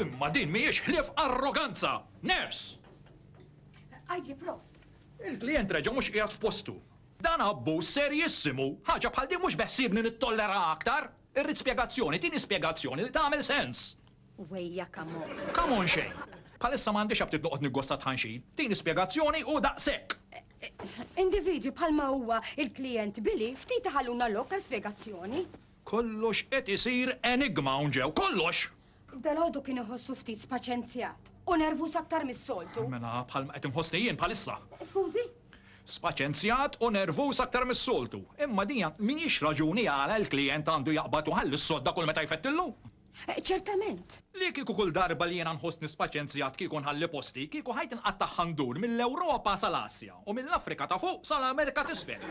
Imma din mhijiex ħlief arroganza! Ners! Għajli profs. Il-klient reġa' mhux qiegħed f'postu. Dan abbuż serijissimu, ħaġa bħal din mhux beħsiebni nittollera aktar. Irrid spjegazzjoni, tini spjegazzjoni li tagħmel sens! Wejja come on! Come on xejn! Bħalissa m'għandix aptit noqgħod niggosta t-tħanxin. Tini spjegazzjoni u daqshekk! Individwi bħalma huwa l-klijent Billy ftit iħalluna lok għal spjegazzjoni. Kollox qed isir enigma hawn ġew, kollox! Dalgħodu kien iħossu ftit spaċenzjat u nervuż aktar mis-soltu. Mela bħal ma qed inħossni jien bħalissa. Skużi? Spaċenzjat u nervuż aktar mis-soltu. Imma dija mhijiex raġuni għala l-klijent għandu jaqbad u jħalli s-sodda kull meta jfettillu. Ċertament. Li kieku kull darba li jiena nħossni spaċenzjat kieku nħalli posti, kieku ħajti nqattagħha ndur mill-Ewropa sal-Asja u mill-Afrika ta' fuq sal-Amerika t'isfel.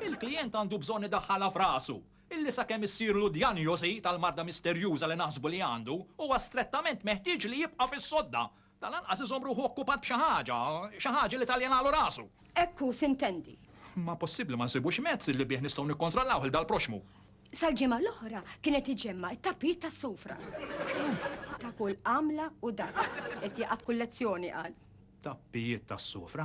Il-klijent għandu bżonn idaħħalha f'rasu. illi sakemm issirlu djanjosi tal-marda misterjuża li naħsbu li għandu, huwa strettament meħtieġ li jibqa' fis-sodda, tal-anqas iżomm ruħu okkupat b'xi ħaġa, xi ħaġa li taljenalu rasu. Hekk hu, sintendi. Ma possibbli ma nsibux mezz li bih nistgħu nikkontrollaw 'l dal-proxxmu? Sal-ġimgħa l-oħra kien qed iġemma' t-tapit tas-sufra. X'inhu? Ta' kull għamla u daqs. Qed jaqgħad kull lezzjoni, qal. Tappijiet tas-sufra?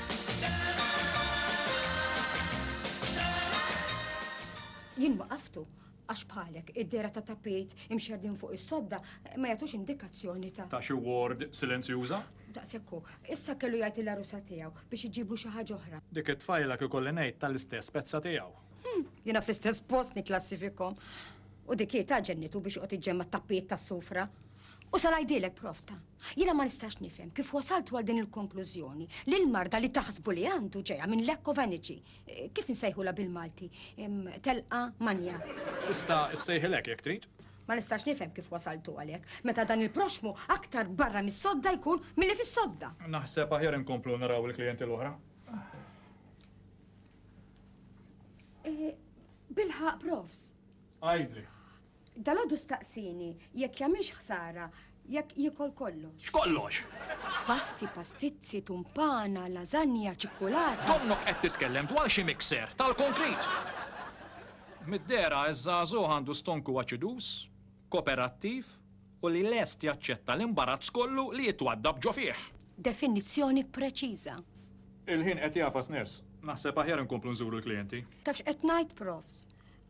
Jien waqaftu għax bħalek id-dehra ta' tapit imxerdin fuq is-sodda ma jagħtux indikazzjoni ta'. Ta' xi ward silenzjuża? Daqshekk hu. Issa kellu jgħid lill-għarusa tiegħu biex iġiblu xi ħaġa oħra. Dik it-tfajla kieku li ngħid tal-istess pezza tiegħu. Hm, jiena fl-istess post nikklassifikhom. U dik hi ta' ġennitu biex joqgħod iġġemma' t-tappijiet tas-sufra. U sa ngħidilek, Profsta. Jiena ma nistax nifhem kif wasaltu għal din il-konklużjoni li l-marda li taħsbu li għandu ġejja minn lack of energy. Kif insejħulha bil-Malti? Telqa manja. Tista' ssejħilha hekk jekk trid. Ma nistax nifhem kif wasaltu għal hekk, meta dan il-proxxmu aktar barra mis-sodda jkun milli fis-sodda. Naħseb aħjar inkomplu naraw il-klijenti l-oħra. Bilħaqq, Profs. Għidli. Dalgħodu staqsieni jekk jagħmilx ħsara jekk jiekol kollox. X'kollox? Pasti, pastizzi, tumpana, lażanja, ċikkulata. Donnok qed titkellem dwar xi mixer tal-konkrit! Mid-dehra ż-żagħżugħ għandu stonku aċiduż, koperattiv u li lest jaċċetta l-imbarazz kollu li jitwaddab ġo fih. Definizzjoni preċiża. Il-ħin qed jagħfas, Nurse. Naħseb aħjar inkomplu nżuru l-klijenti. Taf x'qed ngħid, Profs?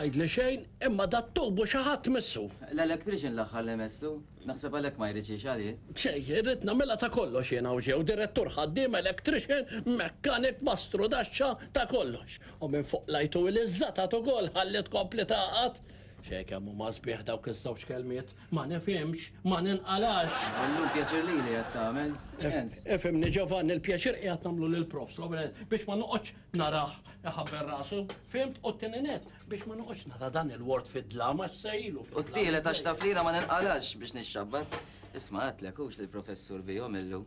Tajdli xejn, imma dat-tubu xi ħadd missu. L-electrician l-aħħar li messu. Naħseb għalhekk ma jridx jgħix għalih. Xejn, irrid nagħmilha ta' kollox jien hawn ġew, direttur, ħaddiem, electrician, mechanic, mastru daxxa, ta' kollox. U minn fuq l-għajtu ili żżatat ukoll ħalli tkompli tagħqad. Xejn kemm huma sbieħ dawk iż-żewġ kelmiet, ma nifhimx, ma ninqalax. Illum pjaċir lili qed tagħmel, x'sens? Ifhimni Ġovanni, il-pjaċir qiegħed nagħmlu lill-Prof. Robert biex ma noqgħodx narah iħabber rasu, fimt, u t-tini net, biex ma nuqx nara dan il-ward fid-dlama xsejlu. U t-tini ta' xtaflira ma nilqalax biex nixxabbar. Isma għatlek, ux li l-professur bijom illu.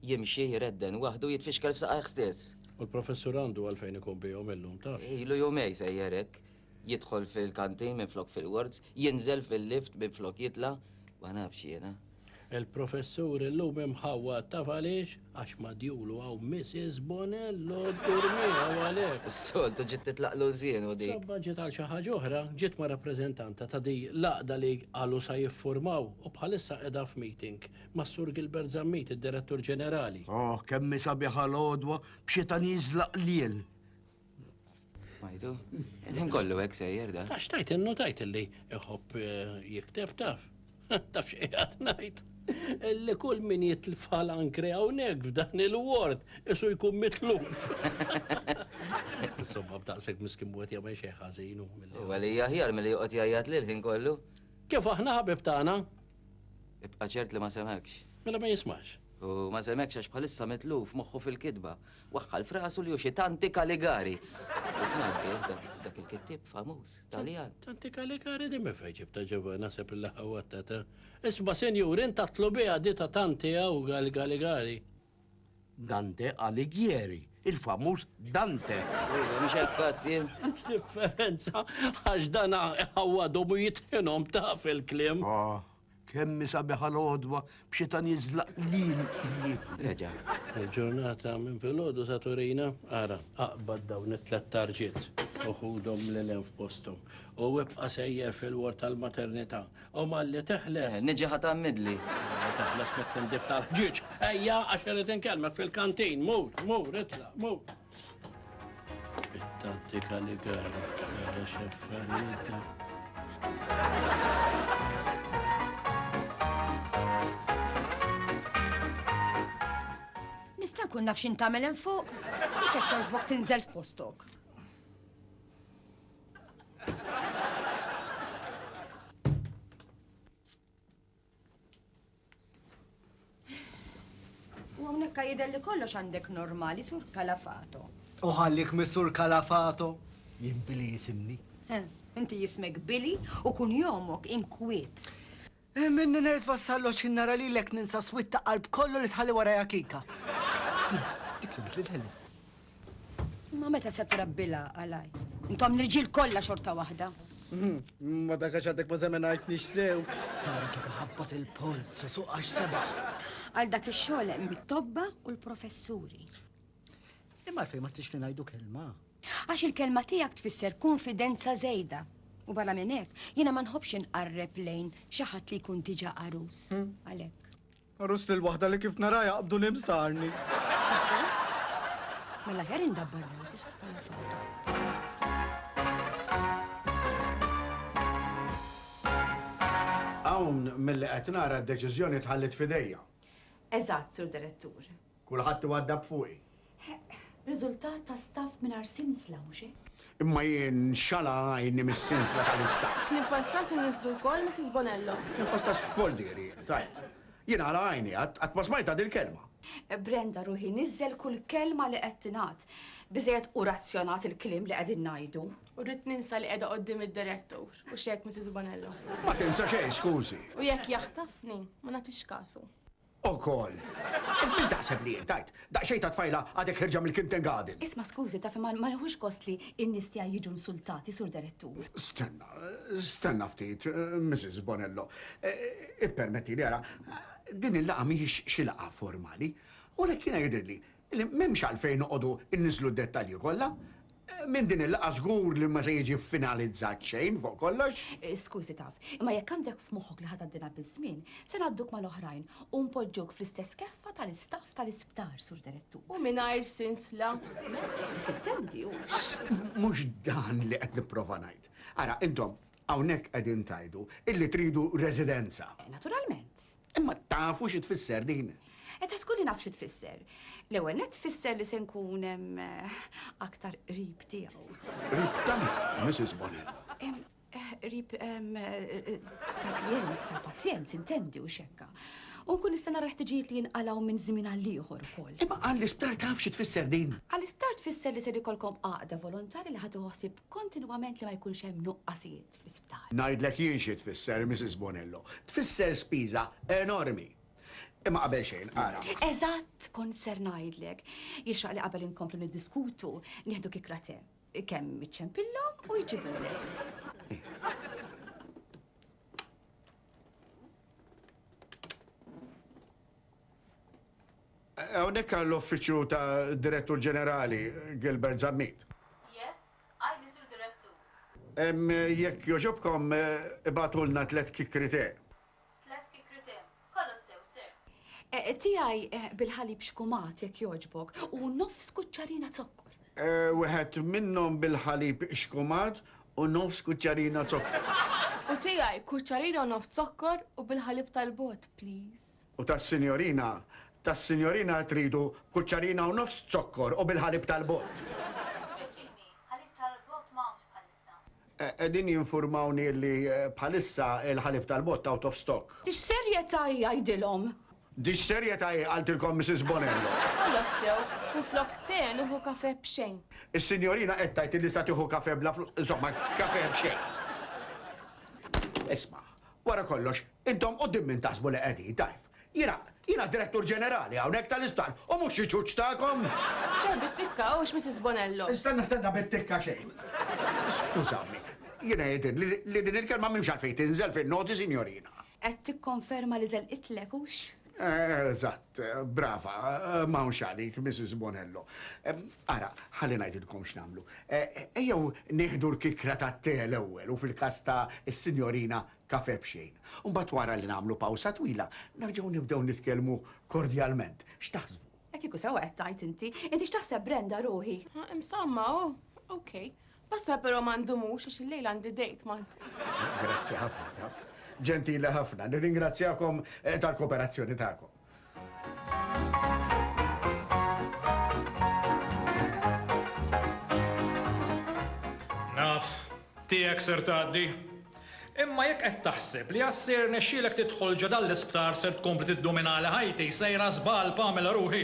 Jimxi jiredden wahdu jitfixkel f'saqajħ stess. U l-professur għandu għalfejn ikun bijom illum ta' Ilu jumej sejjerek, jidħol fil-kantin minn flok fil-wards, jinżel fil-lift minn flok jitla, ma nafx jena. Il-Professur illum imħawwad taf għaliex? Għax madjulu hawn Mrs. Bonello ddur miegħu għalhekk. Is-soltu ġiet titlaqlu l-żienu dik. Insomma ġiet għal xi ħaġa oħra, ġiet ma' rappreżentanta ta' di l-għaqda li qalu sa jiffurmaw u bħalissa qiegħda f'meeting mas-Sur Gilbert Zammit, id-Direttur Ġenerali. Ohh, kemm hi sabiħa l-għodwa b'xita nieżla qliel! Smajtu? Il-ħin kollu hekk sejjer da. Għax tajt innotajt li iħobb eh, jikteb taf. Taf xi qed ngħid. Li kull min jitlfal ankre hawnhekk f'dan il-ward isu jkun mitluf. Insomma b'daqshekk miskin wet jagħmel xi ħażin. Għalija ħjar milli joqgħod jgħajjat lil ħin kollu. Kif aħna ħabib tagħna? Ibqa' ċert li ma semgħekx. Mela ma jismax. U ma semgħekx għax bħalissa mitluf moħħu fil-kitba. Waħħal f'rasu li hu xi Tanti Kaligari. Isma' bih dak il-kittieb famuż, Taljan. Tanti Kaligari di minn fejn ġibta ġewwa naħseb il-laħħa wattata. Isma' sinjur, int tatlu biha di ta' Tanti hawn Kaligari. Dante Alighieri, il-famuż Dante. Mhux hekk qatt jien. Differenza għax dan ħawadhom u jitħinhom taf il-kliem. Ah, kemm sabiħ għal għodwa b'xitan jiżlaq lil Reġa. Il-ġurnata minn filgħodu sa Turina, ara, aqbad dawn it-tlet tarġiet u ħudhom lil hemm f'posthom. U ibqa' sejjer fil-ward tal-maternità U malli teħles. Niġi ħa tgħammidli. Malli teħles mit-tindif tal-ħġieġ. Ejja, għax irrid inkellmek fil-kantin. Mur, mur, itla, mur. It-tattika li gara, gara xefferita. Nista' nkun naf x'in tagħmel hemm fuq? Tiċek jogħġbok tinżel f'postok. U hawnhekk jidher li kollox għandek normali sur kalafato. U ħallik mis-sur kalafato, jien Billy jisimni. Inti jismek Billy u kun jomok inkwiet. Minni nirrid wassallu għax jien nara lilek ninsa swied ta' qalb kollu li tħalli warajha Kika. Dik li bidliet ħelu. Imma meta se trabbilha għal Għid? Intom l-irġiel kollha xorta waħda. Ma dak għax għadek ma żemenajtnix sew. Tara kif iħabbat il-polz, suq għax sebaħ. Għal dak ix-xogħol hemm it-tobba u l-professuri. Imma għalfejn ma tixli ngħidu kelma? Għax il-kelma tiegħek tfisser konfidenza żejda. U barra minn hekk, jiena ma nħobbx inqarreb lejn xi ħadd li jkun diġà għarus. Hmm. Għalhekk. Għarus lil waħda li kif nara jaqbdu nimsarni. Issa? Mela ħer indabbar rasi x'bħala fawda. Hawn mill-li qed nara d-deċiżjoni tħallit fidejja. Eżatt, Sur Direttur. Kulħadd iwaddab fuqi. Riżultat ta' staff mingħajr sinsla, mhux hekk? Imma jien xala għajni mis-sinsla tal-istaff. Snin passat inniżżlu lkoll Missis Bonello. Snin passat x'xogħol diri int għidt? Jien għala għajni għad qatt ma smajtha dil-kelma. Brenda ruħi niżżel kull kelma li qed tingħad. Biżżejjed hu razzjonat il-kliem li qegħdin ngħidu. U rrid ninsa li qiegħda quddiem id-direttur, hux hekk Missis Bonello? Ma tinsa xejn skużi. U jekk jaħtafni, ma nagħtix kasu. ukoll. Int min taħseb li int, għid? Daqsxejn ta' tfajla għadek ħierġa mill-kintengaden! Isma' skużi, taf imma ma nieħux gost li n-nies tiegħi jiġu nsultati, Sur Derettur. Stenna, stenna ftit, Mrs. Bonello. Ippermettili ara, din il-laqgħa mhijiex xi laqgħa formali. U għalhekk jiena jidhirli li m'hemmx għalfejn noqogħdu nniżżlu d-dettalji kollha. Minn din il-laqgħa żgur li ma se jiġi ffinalizzat xejn fuq kollox. Skużi taf, imma jekk għandek f'moħħok li ħa tgħaddilha biż-żmien, se ngħadduk mal-oħrajn u npoġġuk fl-istess keffa tal-istaff tal-isptar, Sur Direttur. U mingħajr sinsla. Le, sittendi, hux. Mhux dan li qed nipprova ngħid. Ara, intom, Hawnhekk qegħdin tgħidu illi tridu residenza. Naturalment. Imma tafu xi tfisser din? E ta' żgur li naf xi tfisser. L-ewwel nett tfisser li se nkun aktar qrib tiegħu. Qrib ta' min, Mrs. Bonella? Qrib tal-klijent, tal-pazjent, intendi, u x'hekk. U nkun nista' nara l-ħtiġijiet li jinqalgħu minn żmien għal ieħor ukoll. Imma għall-isptar taf xi tfisser din? Għall-isptar tfisser li ser ikollkom għaqda volontarja li ħa tieħu ħsieb Kontinwament li ma jkunx hemm nuqqasijiet fl-isptar. Ngħidlek jien xi tfisser, Mrs. Bonello. Tfisser spiża enormi. Imma qabel xejn, ara. Eżatt kont ser ngħidlek. Jixraq li qabel inkomplu niddiskutu, nieħdu kikra te. Kemm iċċempillhom u jġibulek. Hawnhekk għall-Uffiċċju ta' Direttur Ġenerali, Gilbert Zammit. Yes, għidi Sur Direttur. Jekk jogħġobkom ibagħtulna tliet kikkri tè. Tliet kikkri tè. Kollox sew, Sir. Tiegħi bil-ħalib xkumat, jekk jogħġbok, u nofs kuċċarina zokkor. Wieħed minnhom bil-ħalib xkumat u nofs kuċċarina zokkor. U tiegħi kuċċarina u nofs zokkor u bil-ħalib tal-bogħod, please. U tas-sinjorina? Tas-sinjorina qed tridu b'kuċċarina u nofs zokkor u bil-ħalib tal-bott. Jiddispjaċini, ħalib tal-bott ma hawnx bħalissa. Qegħdin jinfurmawni li bħalissa l-ħalib tal-bott out of stock. Dix-xerjetà hi għidilhom? Dix-xerjetà hi qaltilkom Mrs Bonello? Ħallas sew, minflok te nieħu kafè b'xejn. Is-sinjorina qed tgħid li sa tieħu kafè bla flus, insomma kafè b'xejn. Isma', wara kollox Intom quddiem min taħsbu li qegħdin, tajf? Jiena, jiena Direttur Ġenerali hawnhekk tal-isptar u mhux xi ċuċ tagħkom! Ċar bit-tikka, hux Mrs. Bonello. Stenna, stenna, bit-tikka xejn. Skużawni, jiena jidhirli li din il-kelma m'hemmx għalfejn tinżel fin-noti, sinjorina. Qed tikkonferma li żelqitlek, hux? Eżatt, brava, m'hawnx għalik, Mrs. Bonello. Ara, ħalli ngħidilkom x'nagħmlu. Ejjew nieħdu l-kikra tat-te l-ewwel u fil-każ ta' s-Sinjorina Kafè b'xejn. U mbagħad wara li nagħmlu pawsa twila, nerġgħu nibdew nitkellmu kordjalment. X'taħsbu? E kieku sewwa qed tgħid inti. Inti x'taħseb Brenda ruħi? Insomma, oh, ok. Basta però ma ndumux għax illejla għandi date ma. Grazzi ħafna, taf. Ġentili ħafna. Nirringrazzjakom eh, tal-kooperazzjoni tagħkom. Naf, tiegħek ser tgħaddi. Imma jekk qed taħseb li għad ser nexxielek tidħol ġo dan l-isptar ser tkompli tiddominali ħajti, sejra żball Pamela ruħi.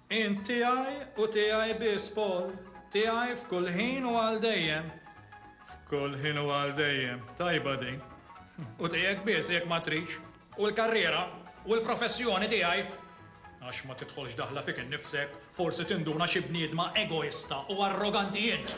Int tiegħi u tiegħi biss, Paul. Tiegħi f'kull ħin u għal dejjem. F'kull ħin u għal dejjem. Tajba din. U tiegħek biss jekk ma tridx. U l-karriera u l-professjoni tiegħi. Għax ma tidħolx daħla fik innifsek, forsi tinduna xi bniedma egoista u arroganti int!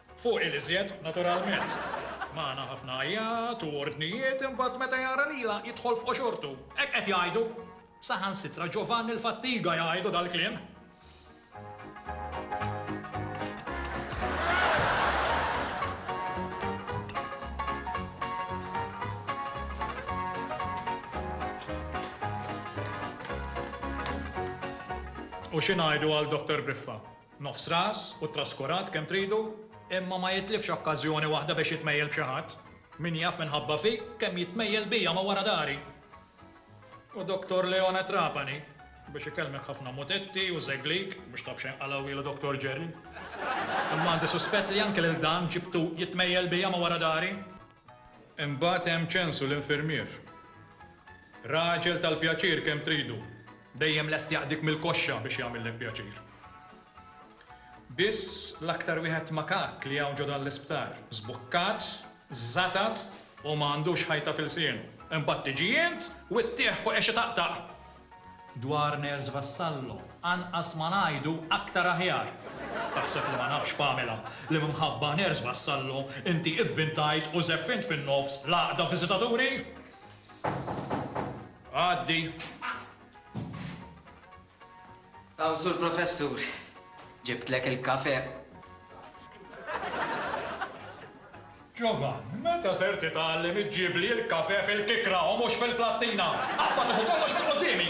Fuq il-iżjed, naturalment. Magħna ħafna għajjat u ordnijiet imbagħad meta jara lilha jidħol f'qoxortu. Hekk qed jgħidu. Saħansitra Ġovanni l-Fattiga jgħidu dal-kliem. U xi ngħidu għal Doctor Briffa? Nofs ras u traskurat kemm tridu, imma ma jitlifx okkażjoni waħda biex jitmejjel b'xi ħadd. Min jaf minħabba fik kemm jitmejjel bija ma' wara dari! U Doktor Leone Trapani biex ikellmek ħafna mutetti u żeglik, mhux ta' b'xejn qalawielu Doktor Ġerri. Imma għandi suspett li anke lil dan ġibtu jitmejjel bija ma' wara dari! Imbagħad hemm Ċensu l-infirmier. Raġel tal-pjaċir kemm tridu, dejjem lest jaqdik mill-koxxa biex jagħmillek pjaċir. Biss l-aktar wieħed makakk li hawn ġo dan l-isptar, żbukkat, żatat u ma għandux ħajta f'ilsienu. Imbagħad tiġi int u ttieħ fuq għex itaqtaq. Dwar Nurse Vassallo, anqas ma ngħidu aktar aħjar! Taħseb li ma nafx Pamela li minħabba Nurse Vassallo inti ivvintajt u żeffint fin-nofs l-għaqda viżitaturi? Għaddi! Hawn Sur Professur, ġibtlek il-kafè. Ġovann, meta ser titgħallem iġġibli l-kafè fil-kikra u mhux fil-plattina? Qabad tieħu kollox minn quddiemi!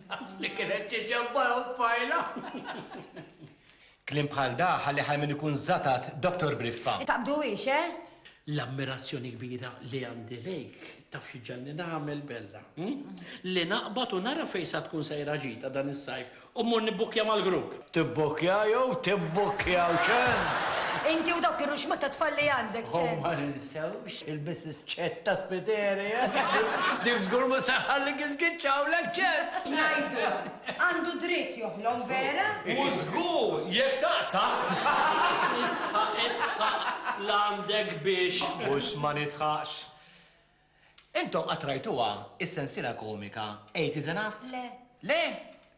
Asli kienet ċiċabba u tfajla. Kliem bħal da ħalli ħajmin ikun żatat Doctor Briffa. Taqbduhiex, eh? L-ammirazzjoni kbira li għandi lejk, taf xi ġġalni nagħmel Bella? Hm? Li naqbad u nara fejn sa tkun sejra ġita dan is-sajf u mmur nibbukkja mal-grupp. Tibbukkja jew tibbukkjaw, ċens! Inti u dawk ir-ruxma tat-tfal li għandek, ċens! U ma ninsewx Il-Missis Ċett ta' Spiteri, eh? Dik żgur mhux se tħallik iżgiċċaw l-aċċess! X'ngħidu? Għandu dritt joħlom, vera? U żgur, jekk taqta'! Idħaq, idħaq, l'għandek biex. Mhux ma nidħaqx. Intom qatt rajtuha s-sensiela komika Eight is Enough? Le. Le?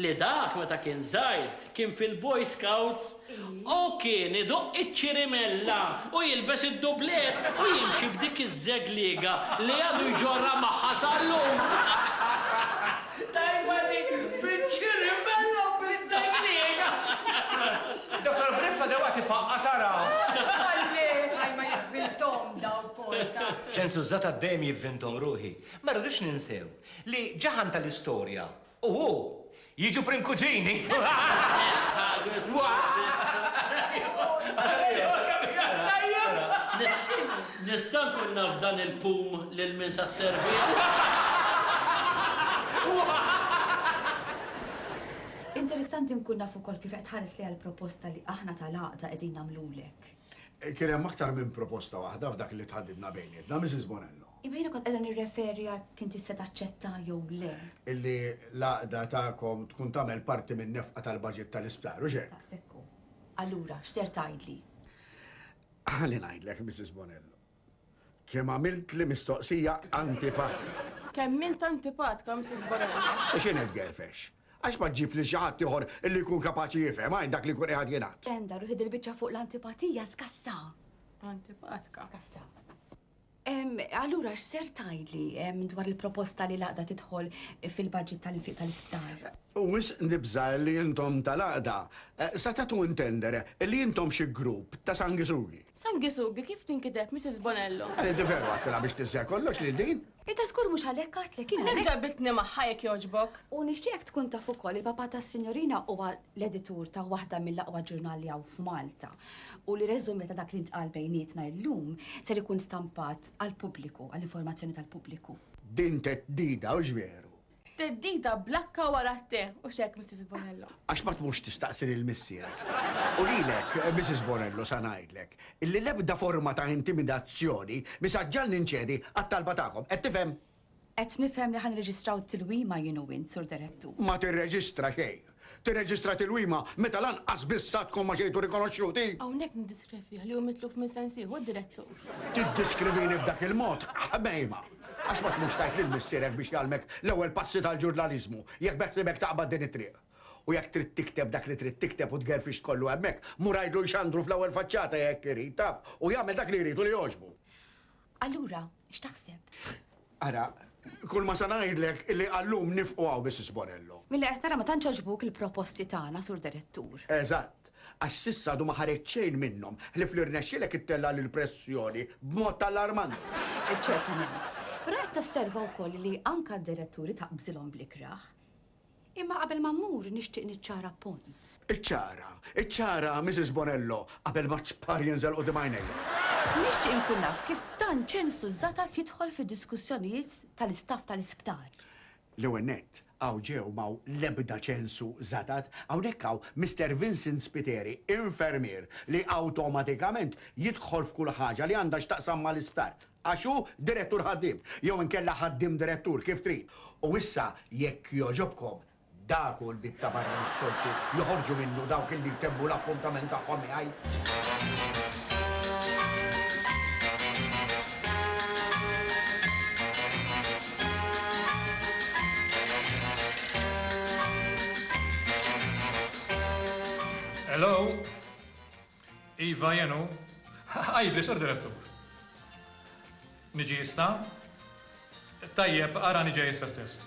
li dak meta kien żgħir kien fil-Boy Scouts u kien iduqq iċ-ċirimella u jilbes id-dublet u jimxi b'dik iż-żegliega li għadu jġorrha magħha sal-lum. Tajba dik, biċ-ċirimella u biż-żegliega! Dottor Briffa dewwaqt ifaqqas ara! Għalli, għaj ma jivvinthom dawn Porta! Ċensużżat għad-dejjem jivvinthom ruħi. Ma rridux ninsew li ġaħan tal-istorja U hu, Jiġu prim kuġini! Nista' nkun naf dan il-pum lil min sa sservih? Interessanti nkun naf ukoll kif qed tħares lejha l-proposta li aħna tal-Għaqda qegħdin nagħmlulek. Kien hemm aktar minn proposta waħda f'dak li tħaddidna bejnietna, Misis Bonello. Iva jiena kont qiegħda nirreferi għal kien tista' taċċetta jew le. Illi l-għaqda tagħkom tkun tagħmel parti min-nefqa tal-baġit tal-isptar, hux hekk? Daqshekk hu. Allura, x'ser tgħidli? Ħalli ngħidlek, Mrs. Bonello. Kemm għamiltli mistoqsija antipatika. Kemm int antipatka, Mrs. Bonello. U x'inhi tgerfex? Għax ma ġġib lil xi ħadd ieħor illi jkun kapaċi jifhem għajn dak li jkun qiegħed jingħad. Brenda, ruħi dil-biċċa fuq l-antipatija skassa. Antipatka. Skassa. Allura x'ser tgħidli dwar il-proposta li l-Għaqda tidħol fil-baġit tal-infiq tal-isptar? Wisq nibża' li intom tal-Għaqda se tagħtu intendere li intom xi grupp ta' sanguisughi. Sanguisughi kif tinkiteb, Misis Bonello? Qal inti veru għadtilha biex tiżżegħ kollox lil din? Inta żgur mhux għalhekk għadtlek jien. Għalhekk ġabitni magħha jekk jogħġbok. U nixtieqek tkun taf ukoll li l-papà tas-Sinjorina huwa l-editur ta' waħda mill-aqwa ġurnali hawn f'Malta. u li reżumé ta' dak li ntqal bejnietna illum ser ikun stampat għall-pubbliku, għall-informazzjoni tal-pubbliku. Din theddida, hux veru? Theddida bl-akka wara t-te, hux hekk, Missis Bonello? Għax ma tmurx tistaqsi lil missierek? U lilek, Missis Bonello, sa ngħidlek, illi l-ebda forma ta' intimidazzjoni mi sa ġġagħlni nċedi għat-talba tagħkom. Qed tifhem? Qed nifhem li ħa nirreġistraw tilwima jien u int, Sur Direttur. Ma tirreġistra xejn. Tirreġistra tilwima meta lanqas biss sa tkun ma ġejtu rikonoxxuti? Hawnhekk niddiskrevih li hu mitluf minn sensieħu, Direttur. Tiddiskrivini b'dak il-mod? Ħmejma! Għax ma tmurx tgħid lil missierek biex jgħallmek l-ewwel passi tal-ġurnaliżmu, jekk beħsiebek taqbad din it-triq. U jekk trid tikteb dak li trid tikteb u tgerfix kollu hemmhekk, mur għidlu jxandru fl-ewwel faċċata jekk irid, taf, u jagħmel dak li jrid u li jogħġbu. Allura, x'taħseb? Ara, kull ma sa ngħidlek li għallum nifqu hawn Mrs. Bonello. Milli qed nara ma tantx għaġbuk il-proposti tagħna, Sur Direttur. Eżatt, għax s'issa għadu ma ħareġ xejn minnhom, ħlief li rnexxielek ittella' l-pressjoni b'mod allarmanti. Ċertament. Però qed nosserva wkoll li anke d-diretturi taqbżilhom bl-ikrah. Imma qabel ma mmur nixtieq niċċara punt. Iċċara, iċċara, Misis Bonello, qabel ma ċpar jinżel quddiem għajnejja. Nixtieq inkun naf kif dan ċensu żgħatat jidħol fid-diskussjonijiet tal-istaff tal-isptar? L-ewwel nett, hawn ġew m'hawn l-ebda ċensu żgħatat. Hawnhekk hawn Mister Vincent Spiteri, infermier li awtomatikament jidħol f'kull ħaġa li għandha x'taqsam mal-isptar. għax hu direttur-ħaddiem, jew inkella ħaddiem-direttur, kif trid. U issa, jekk jogħġobkom, dak hu l-bieb ta' barra li s-soltu joħorġu minnu dawk li jtemmu l-appuntament tagħhom miegħi. Hello! Iva jien hu. Għidli, Sur Direttur. Niġi issa? Tajjeb, arani ġej issa stess.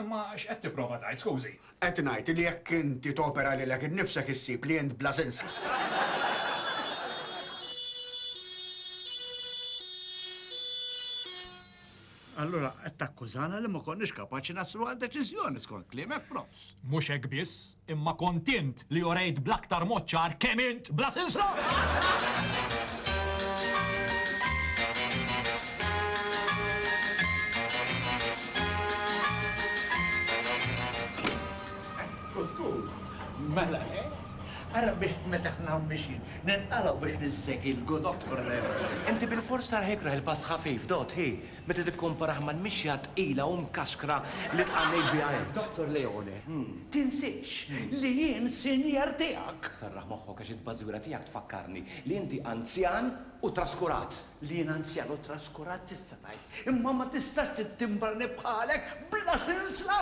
Imma x'qed tipprova tgħid, skużi? Qed ngħid li jekk inti topera lilek innifsek issib li int bla sensi. Allura qed takkużana li ma konniex kapaċi naslu għal deċiżjoni skont kliemek, Profs. Mhux hekk biss. Imma kont int li urejt bl-aktar mod ċar kemm int bla sinsla! Kuttur, Mela le. Ara bih meta aħna hawn mixjin ninqalgħu biex ninsegilgu, Dottor Lev. Inti bilfors tarh ikrah il-pass ħafif, Dott, hi? meta tikkomparah mal-mixja tqila u mkaxkra li tqannejt biha int. Dottor Leone, tinsiex li jien sinjer tiegħek! Serraħ moħħok għax it-tbażwira tiegħek tfakkarni li inti anzjan u traskurat! Li jien anzjan u traskurat tista' tgħid, imma ma tistax tittimbrani bħalek bla sinsla!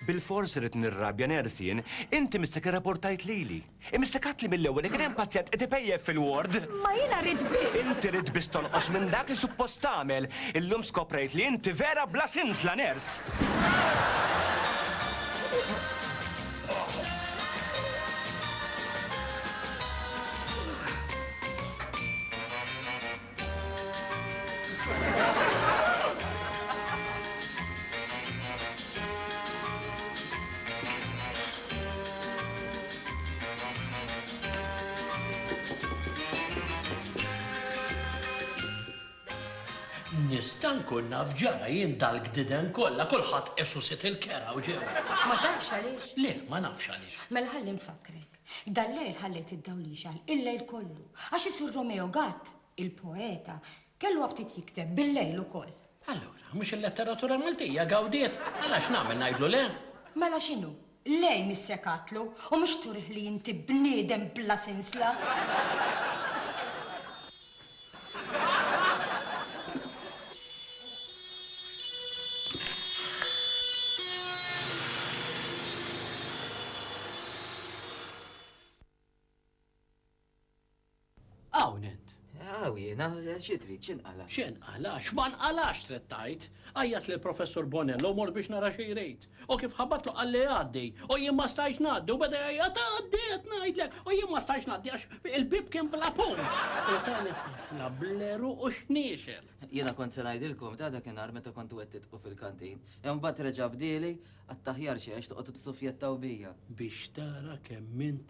Bilfors irrid nirrabja ners jien. Inti missek irraportajt lili. Imissek għadtli mill-ewwel li kien hemm pazjent qed ipejjep fil-ward! Ma jiena rrid biss. Inti ridt biss tonqos minn dak li suppost tagħmel. Illum skoprejt li inti vera bla sinsla ners! Nista' nkun naf ġara jien dal-gdiden kollha kulħadd qesu sit il-kera u ġew. Ma tafx għaliex? Le, ma nafx għaliex. Mela ħalli nfakkrek. Dal-lejl ħallejt id-dawl jixgħal il-lejl kollu, għax is-Sur Romeo Gatt, il-poeta, kellu aptit jikteb bil-lejl ukoll. Allura, mhux il-letteratura Maltija gawdiet? Mela x'nagħmel, ngħidlu le? Mela x'inhu? Lejn missekatlu, u mhux turih li inti bniedem bla sinsla? Hawn int. Aw jiena xi trid x'inqala. X'inqala, x'ma nqalax trid tgħid. Għajjat lil Professor Bonello mor biex nara xi jrid. O kif ħabatlu qalli għaddi, o jien ma stajtx ngħaddi u beda jgħajjat għaddi qed ngħidlek, o jien ma stajtx ngħaddi għax il-bieb kien bla pum. U tani ħarsna bl-għeruq u xniexel. Jiena kont se ngħidilkom ta' dakinhar meta kontu qed tidqu fil-kantin. Imbagħad reġa' bdieli, Għat-taħjar xi għex toqgħodu tissufjettaw bija. Biex tara kemm int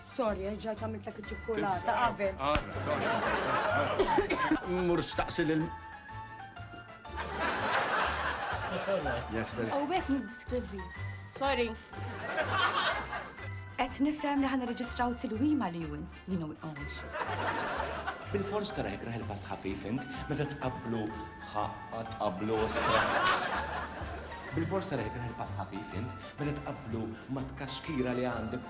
Sorry, eh, ġajt għamiltlek iċ-ċikkulata qabel. Mur staqsi lil. Yes, there's. U għek nidskrivi. Sorry. Et nifhem li ħan reġistraw tilwima li wint li nu għonx. Bil-fors tara jekk raħel pass ħafif int, meta tqablu ħaqqa tqablu ostra. Bil-fors tara jekk raħel pass ħafif int, meta tqablu ma tkaxkira li għandek